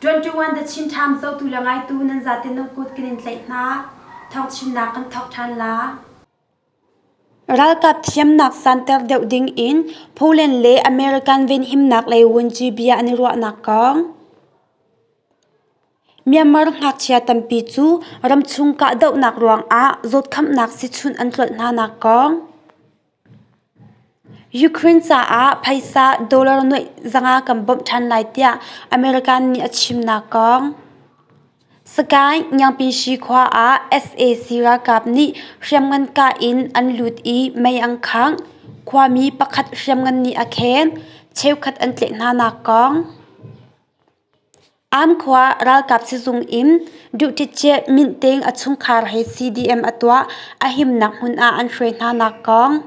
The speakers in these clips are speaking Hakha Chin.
21 the Chin Time zotu le ngaitu nan zaten nan kut kan in tlaih hna thawngchimnak kan thawk ṭhan la Ralkap thiamnak santer deuh ding in Poland le American venhimnak lei vunci bia an i ruahnak kong. Myanmar ngakchia tampi cu ramchung kahdohnak ruangah zawtkhamhnak sichunh an tlolh hnanak kong. Ukraine caah phaisa dollar nuaih zanga kan bawmh ṭhan lai tiah America nih a chimnak kong. Sky Ngiangpinshi khua ah sac ralkap nih hriamngan kah in an lut i mei an khangh, khuami pakhat hriamngan nih a khen, cheukhat an tleh hnanak kong. Ankhua ralkap sizung in duh ṭitṭiah minhteng a chungkhar he CDM a tuah a himnak hmun ah an hruai hnanak kong.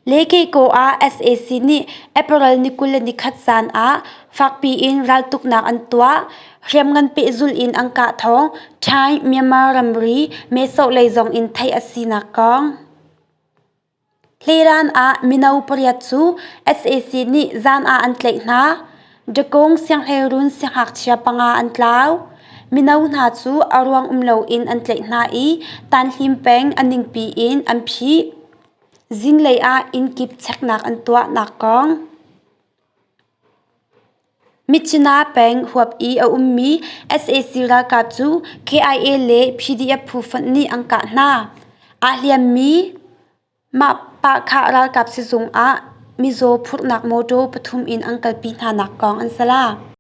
Lekeikaw ah sac nih April ni kul le nikhat zan ah fakpi in raltuknak an tuah, hriamngan pehzulh in an kah thawng Thai, Myanmar ramri, Mehsawhlei zong in theih a sinak kong. Hliran ah mino pariat cu sac nih zan ah an tlaih hna. Dakung sianghleirun sianghngakchia panga an tlau. Mino hna cu a ruang um loin an tlaih hna i tanhlim peng a ningpi in an phih. Zinglei ah inn kip cheknak an tuah nak kong. Michina peng huap i a ummi sac ralkap cu KIA le PDF phu fonh nih an kah hna. Aa hliammi Mapakha ralkap sizung ah mizaw phurhnak mawṭaw pathum in an kalpi hnanak kong an sac.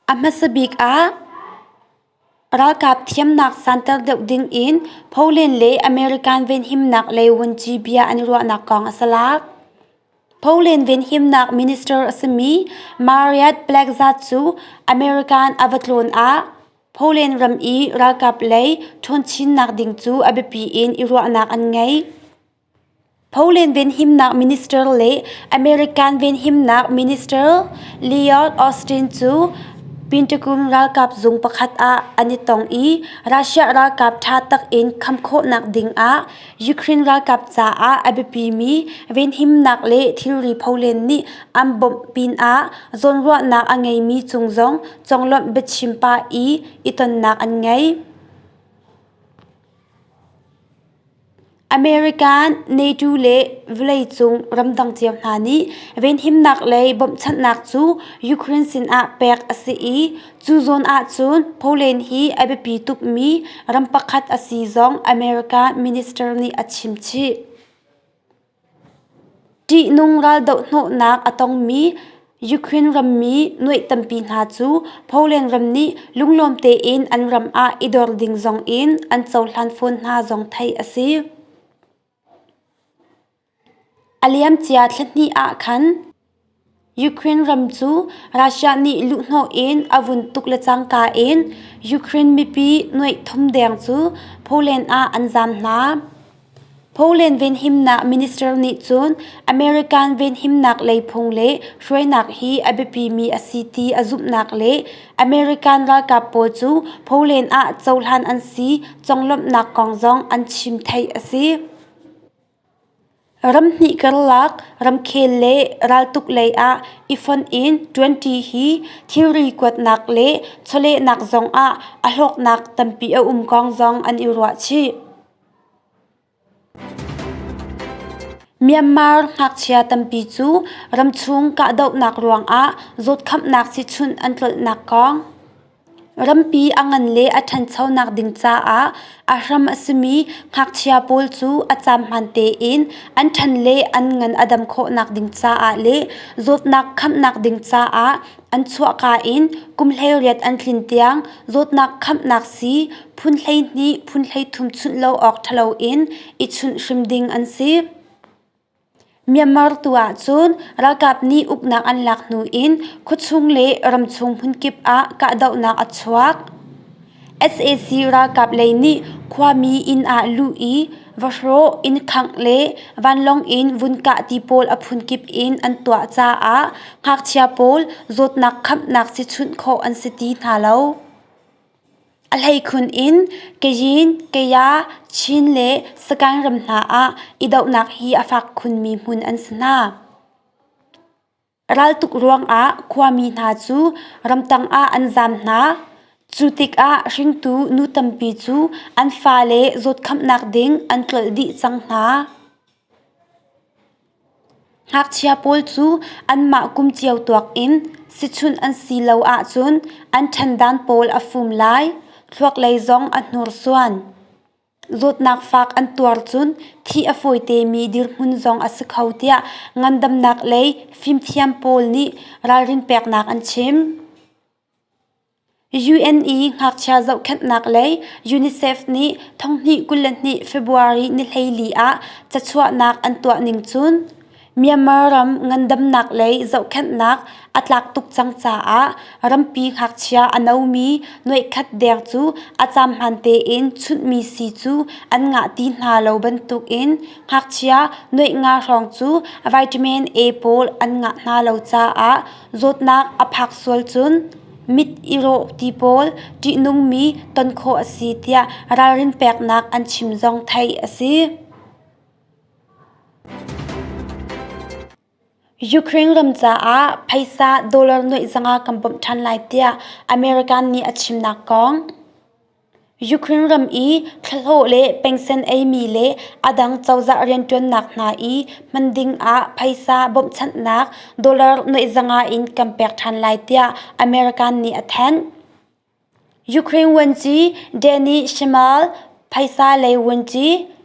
A hmasa bik ah ralkap thiamnak santer deuh dingin Poland le American venhimnak lei vunci bia an i ruahnak kong a salak. Poland venhimnak minister a simi Mariad Plekza cu American a va tlawn ah Poland ram i ralkap lei ṭhunchinnak ding cu a biapi in i ruahnak an ngei. Poland venhimnak minister le American venhimnak minister Lloyd Austin cu Pentagon ralkap zung pakhat ah an i tong i Russia ralkap ṭha takin kham khawhnak dingah Ukraine ralkap caah a biapimi venhimnak le thilri Poland nih an bawmh pinah zawnruahnak a ngeimi cung zong conglawmh biachim pah i i tonnak an ngei. American, NATO le vawleicung ramdang cio hna nih venhimnak lei bawmhchanhnak cu Ukraine sinah pek a si i cu zawn ahcun Poland hi a biapi tukmi ram pakhat a si zong American minister nih a chim chih. ṭihnung raldoh hnawhnak a tongmi Ukraine rammi nuaih tampi hna cu Poland ram nih lunglawm tein an ram ah i dor ding zongin an cohlan fawn hna zong theih a si. A liamcia thla hnih ah khan Ukraine ram cu Russia nih luhhnawh in a vun tuk le cangka in Ukraine mipi nuaih thum deng cu Poland ah an zam hna. Poland venhimnak minister nih cun American venhimnak lei phung le hruainak hi a biapimi a si ti a zumhnak le American ralkap pawl cu Poland ah cohlan an si conglawmhnak kong zong an chim theih a si. Ram hnih karlak ramkhel le raltuk lei ah i fonh in ṭuanṭi hi thilri kuatnak le chawlehnak zong ah a hlawknak tampi a um kong zong an i ruah chih. Myanmar ngakchia tampi cu ramchung kahdohnak ruangah zawtkhamhnak sichunh an tlolhnak kong. Rampi a ngan le a ṭhanchonak ding caah a hram a simi ngakchia pawl cu a caan hmaan tein an ṭhan le an ngan a dam khawhnak ding caah le zawtnak khamhnak ding caah an chuahka in kum hleiriat an tlin tiang zawtnak khamhnak sii phun hleihnih phun hleithum chunh lo awk ṭhalo in i chunh hrim ding an si. Myanmar tu ahcun ralkap nih uknak an lak hnu in khuachung le ramchung hmunkip ah kahdohnak a chuak. sac ralkap lei nih khuami inn ah luh i vahrawh, inn khangh le vanlawng in vun kah ti pawl a phunkip in an tuah caah ngakchia pawl zawtnak khamhnak si chunh khawh an si ti hna lo. A hleikhun in Kayyin, Kaya, Chin le Sagaing ram hna ah i dohnak hi a fak khunmi hmun an si hna. Raltuk ruangah khuami hna cu ramtang ah an zaam hna. Cu tikah hringtu nu tampi cu an fale zawtkhamhnak ding an tlolh dih cang hna. Ngakchia pawl cu anmah kum cio tuak in sichunh an si lo ahcun an ṭhandan pawl a fum lai, thluaklei zong a hnursuan. Zawtnak fak an tuar cun thi a fawi temi dirhmun zong a si kho tiah ngandamnak lei fimthiam pawl nih ralrin peknak an chim. UN i ngakchia zohkhenhnak lei UNICEF nih thonghnih kul le hnih February nihleili ah cachuahnak an tuah ning cun Myanmar ram ngandamnak lei zohkhenhnak a tlak tuk cang caah rampi ngakchia a nomi nuaikhat deng cu a caam hmaan tein chunhmi si cu an ngah ti hna lo bantukin ngakchia nuaih nga hrawng cu vitamin A pawl an ngah hna lo caah zawtnak a phak sual cun mit i rawh ti pawl ṭihnungmi ton khawh a si tiah ralrin peknak an chim zong theih a si. Ukraine ram caah phaisa dollar nuaih zanga kan bawmh ṭhan lai tiah American nih a chimnak kong. Ukraine ram i thlahlawh le pengsen eimi le a dang cozah rianṭuannak hna i hman ding ah phaisa bawmhchanhnak dollar nuaihzanga in kan pek ṭhan lai tiah America nih a thanh. Ukraine vuanci Danny Shemal, phaisa lei vuanci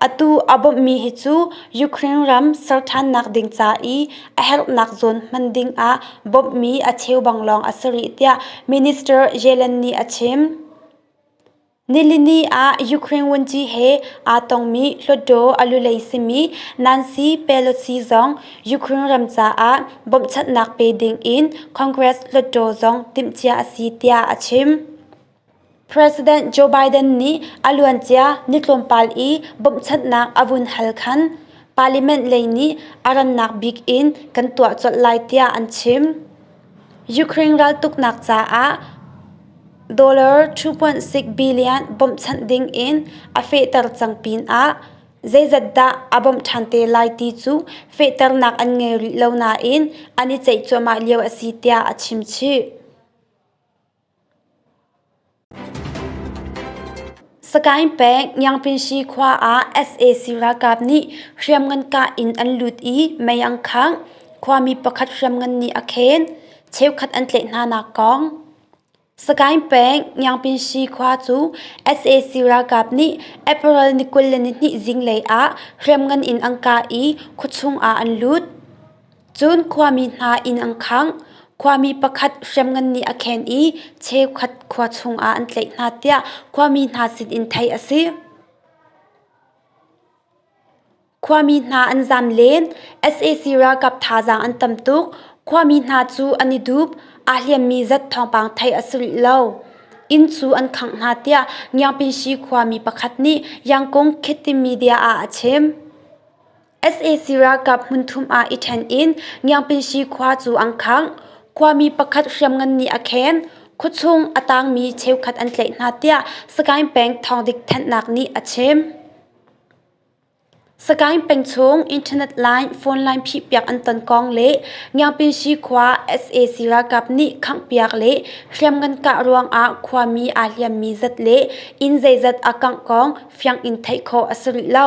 Atu a bawmhmi hi cu Ukraine ram ser ṭhannak ding ca i a herhnak zawn hman ding ah bawmhmi a cheu bang lawng a si rih tiah Minister Yellen nih a chim. Nilini ah Ukraine wunci he aa tongmi Hluttaw alulei simi Nancy Pelosi zong Ukraine ram caah bawmhchanhnak pe ding in Congress Hluttaw zong timhcia a si tiah a chim. President Joe Biden nih a luancia ni tlawmpal i bawmhchanhnak a vun hal khan parliament lei nih a rannak bik in kan tuah colh lai tiah an chim. Ukraine raltuknak caah $2.6 billion bawmhchanh ding in a fehter cang pinah zeizat dah a bawmh ṭhan te lai ti cu fehternak an ngei rih lo nain an i ceih cuahmah lio a si tiah a chim chih. Sagaing peng Ngiangpinshi khua ah sac ralkap nih hriamngan kah in an lut i mei an khangh, khuami pakhat hriamngan nih a khen, cheukhat an tlaih hnanak kong. Sagaing peng Ngiangpinshi khua cu sac ralkap nih April ni kul le ni hnih zinglei ah hriamngan in an kah i khuachung ah an lut. Cun khuami hna inn an khangh. Khuami pakhat hriamngan nih a khen i cheukhat khua chungah an tlaih hna tiah khuami hna sinin theih a si. Khuami hna an zam len. sac ralkap thazaang an tam tuk. Khuami hna cu an i dup. Aa hliammi zat thawngpang theih a si rih lo. Inn cu an khangh hna tiah Ngiangpinsi khuami pakhat nih Yangkung Khit ti media ah a chim. sac ralkap hmunthum ah i ṭhen in Ngiangpinsi khua cu an khangh. Khuami pakhat hriamngan nih a khen. Khua chung a tangmi cheukhat an tlaih hna tiah Sagaing peng thawngdik thanhnak nih a chim. Sagaing peng chung internet line phone line phihpiak an ton kong le Ngiangpinsi khua sac ralkap nih khanghpiak le hriamngan kah ruangah khuami aa hliammi zat le inn zeizat a kangh kong fiang in theih khawh a si rih lo.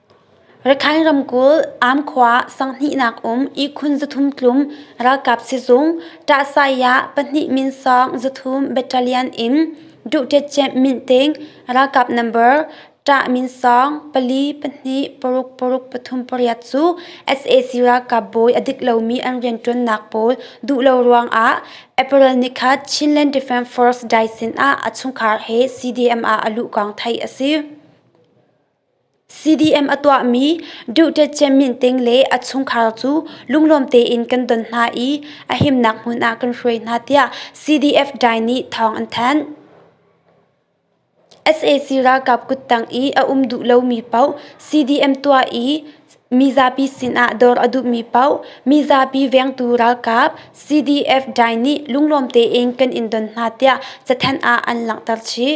Rakhine ramkulh Amkhua sanghnih-nak um ihkhun zathum tlum ralkap sizung Tahsayah pahnih minsawng zathum battalion in Duhtet camp Minhteng ralkap number tah minsawng pali pahnih paruk paruk pathum pariat cu sac ralkap bawi a dik lomi an rianṭuannak pawl duh lo ruangah April ni khat Chinland Defence Force dai sinah a chungkhar he CDM ah a luh kong theih a si. CDM a tuahmi Duterte minting le a chungkhar cu lunglawm tein kan don hna i a himnak hmun ah kan hruai hna tiah CDF dai nih thawng an thanh. sac ralkap kuttang i a um duh lomi paoh CDM tuah i mizapi sinah dawr a duhmi paoh mizapi vengtu ralkap CDF dai nih lunglawm tein kan in don hna tiah cathanh ah an langhter chih.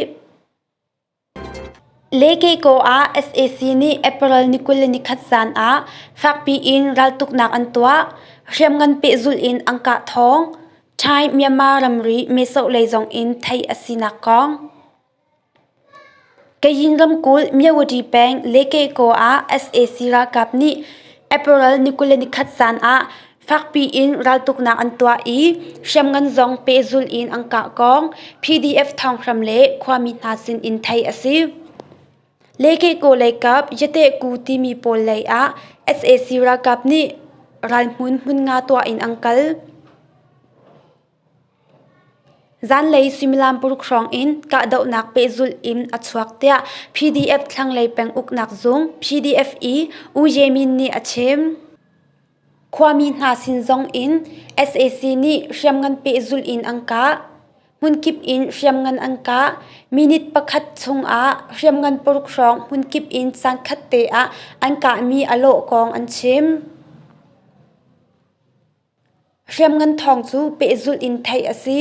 Le Keiko ah sac nih April ni kul le ni khat zan ah fakpi in raltuknak an tuah, hriamngan pehzulh in an kah thawng, Thai Myanmar ramri mesoh lei zong in theih a sinak kong. Kayin ramkulh Myawadi peng Le Keiko ah sac ralkap nih April ni kul le ni khat zan ah Fakpi in raltuknak an tuah i hriamngan zong pehzul in an kah kong PDF thawnghrang le khuami hna sin in theih a si. Lekeko leikap Yatehku timi pawl lei ah sac ralkap nih ralhmun hmun nga tuah in an kal. Zanlei suimilam paruk hrawng in kahdohnak pehzul in a chuak tiah PDF thlanglei peng uknak zung PDF-E U Ye Min nih a chim. Khuami hna sin zongin sac nih hriamngan pehzulh in an kah. Hmunkip in hriamngan an kah. Minute pakhat chungah hriamngan paruk hrawng hmunkip in caankhat te ah an kahmi a lawh kong an chim. Hriamngan thawng cu pehzulh in theih a si.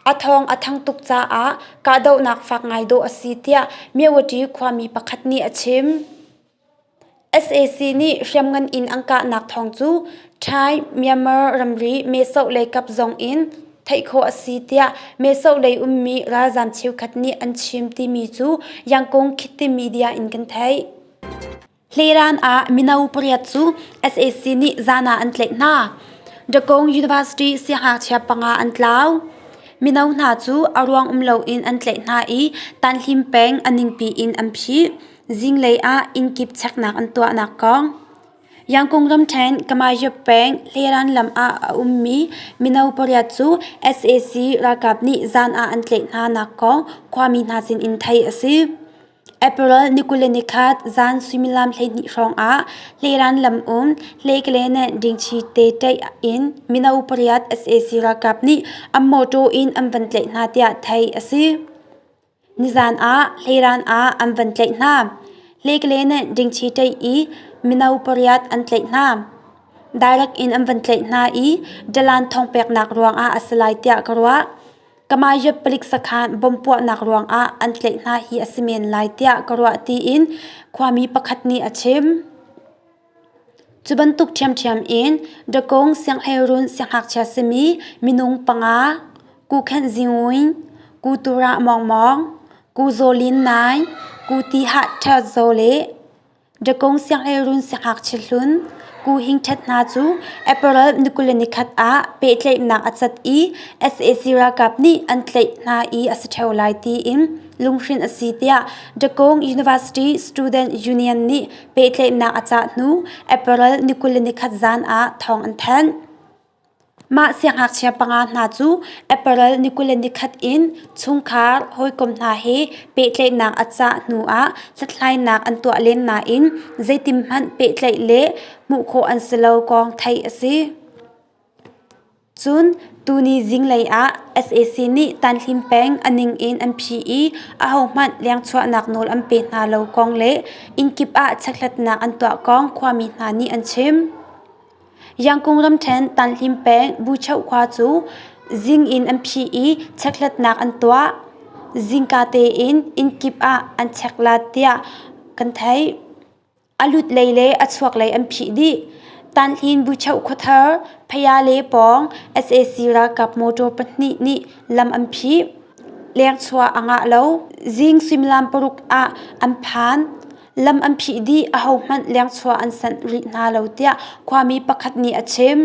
A thawng a thang tuk caah kahdohnak fak ngai dawh a si tiah Myeawati khuami pakhat nih a chim. sac nih hriamngan in an kahnak thawng cu thai myanmar ramri mehsawh lei kap zong in theih khawh a si tiah mehsawh lei ummi ralzaam cheukhat nih an chim timi cu yangkong khiti media in kan theih hleiraan ah mino pariat cu sac nih zan ah an tlaih hna dagong university siangngakchia panga an tlau mino hna cu a ruang um loin an tlaih hna i tanhlim peng a ningpi in an phih Zinglei ah innkip cheknak an tuahnak kong Yangkung ramṭhen Kamayup peng Hleran lam ah a ummi mino pariat cu sac ralkap nih zan ah an tlaih hnanak kong khuami hna sinin theih a si. April ni kul le nikhat zan suimilam hleihnih hrawngah Hleran lam um Hlekelene Dingṭhi te ṭaih in mino pariat sac ralkap nih an mawṭaw in an van tlaih hna tiah theih a si. Nizan ah hleiran ah an van tlaih hna. Hlekele nih dingchi ṭeih i mino pariat an tlaih hna. Direct in an van tlaih hna i dalan thong peknak ruangah a si lai tiah ka ruah. Kamaiyut palik sakhan bom puahnak ruangah an tlaih hna hi a si men lai tiah ka ruah tiin khuami pakhat nih a chim. Cu bantuk ṭhiamṭhiam in Dakung sianghleiruun sianghngakchia simi minung panga, Ku Khenh Zingwin, Ku Turah Mawng Mawng, Ku Zaw Lin Nai, Ku Ti Hah Ṭheo Zaw le Dakung sianghleiruun sianghngakchia hlun Ku Hing Ṭhet hna cu April ni kul le ni khat ah pehtlaihnak a cat i sac ralkap nih an tlaih hna i a si ṭheo lai tiin lunghrinh a si tiah Dakung University Student Union nih pehtlaihnak a cah hnu April ni kul le nikhat zan ah thawng an thanh. Mah siangngakchia panga hna cu April ni kul le nikhat in chungkhar hawikom hna he pehtlaihnak a cah hnu ah hlathlainak an tuah len nain zeitikhmanh pehtlaih le hmuh khawh an si lo kong theih a si. Cun tuni zinglei ah sac nih tanhlim peng a ning in an phih i ahohmanh lengchuahnak nawl an pe hna lo kong le innkip ah checkhlatnak an tuah kong khuami hna nih an chim. Yangkung ramṭhen tanhlim peng Bucheu khua cu zing in an phih i checkhlatnak an tuah. Zingka tein innkip ah an check la tiah kan theih. A lut lei le a chuak lei an phih dih. Tanhlin Buchoh khuathar, Phaya le pawng sac ralkap motor pahnih nih lam an phih. Lengchua a ngah lo. Zing suimilam paruk ah an phan. Lam an phih dih. Ahohmanh lengchua an sanh rih hna lo, tiah khuami pakhat nih a chim.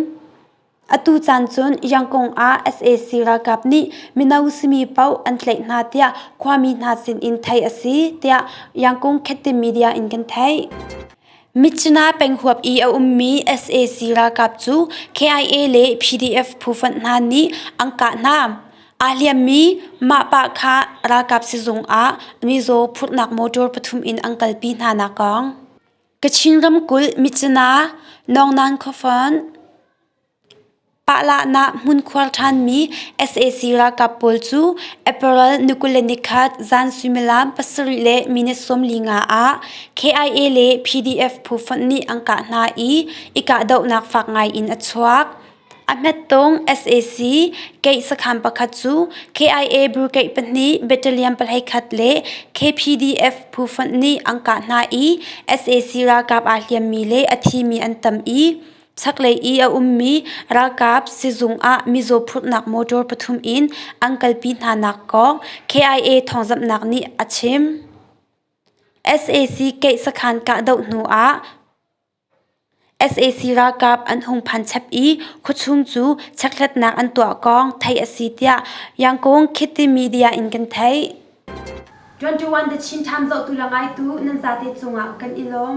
Atu caan cun Yangon ah sac ralkap nih mino simi paoh an tlaih hna tiah khuami hna sinin theih a si tiah Yangon Khette Media in kan theih. Mitcina penghuap i a ummi sac ralkap cu KIA le PDF phufonh hna nih an kah hna. Aa hliammi Mahpah kha ralkap sizung ah mizaw phurhnak motor pathum in an kalpi hna nakong. Kachin ramkulh Mitsina Nongnan khuafon Pahlah-nah hmunkhuar ṭhanmi sac ralkap pawl cu April nikule nikhat zan suimilam pasarih le minute sawmli nga ah KIA le PDF phu fonh nih an kah hna i i kahdohnak fak ngai in a chuak. A hmettawng sac keih sakhan pakhat cu KIA Brigade pahnih battalion pahlei khat le KPDF phu fonh nih an kah hna i sac ralkap aa hliammi le a thimi an tam i chaklei i a ummi ralkap sizung ah mizaw phurhnak motor pathum in an kalpi hnanak kong KIA thawngzamhnak nih a chim. sac keih sakhan kahdoh hnuah sac ralkap an hung phan chep i khuachung cu checkhlatnak an tuah kong theih a si tiah Yangon Khiti Media in kan theih. 21 The Chin Times zohtu le ngaitu nan zate cungah kan i lawm.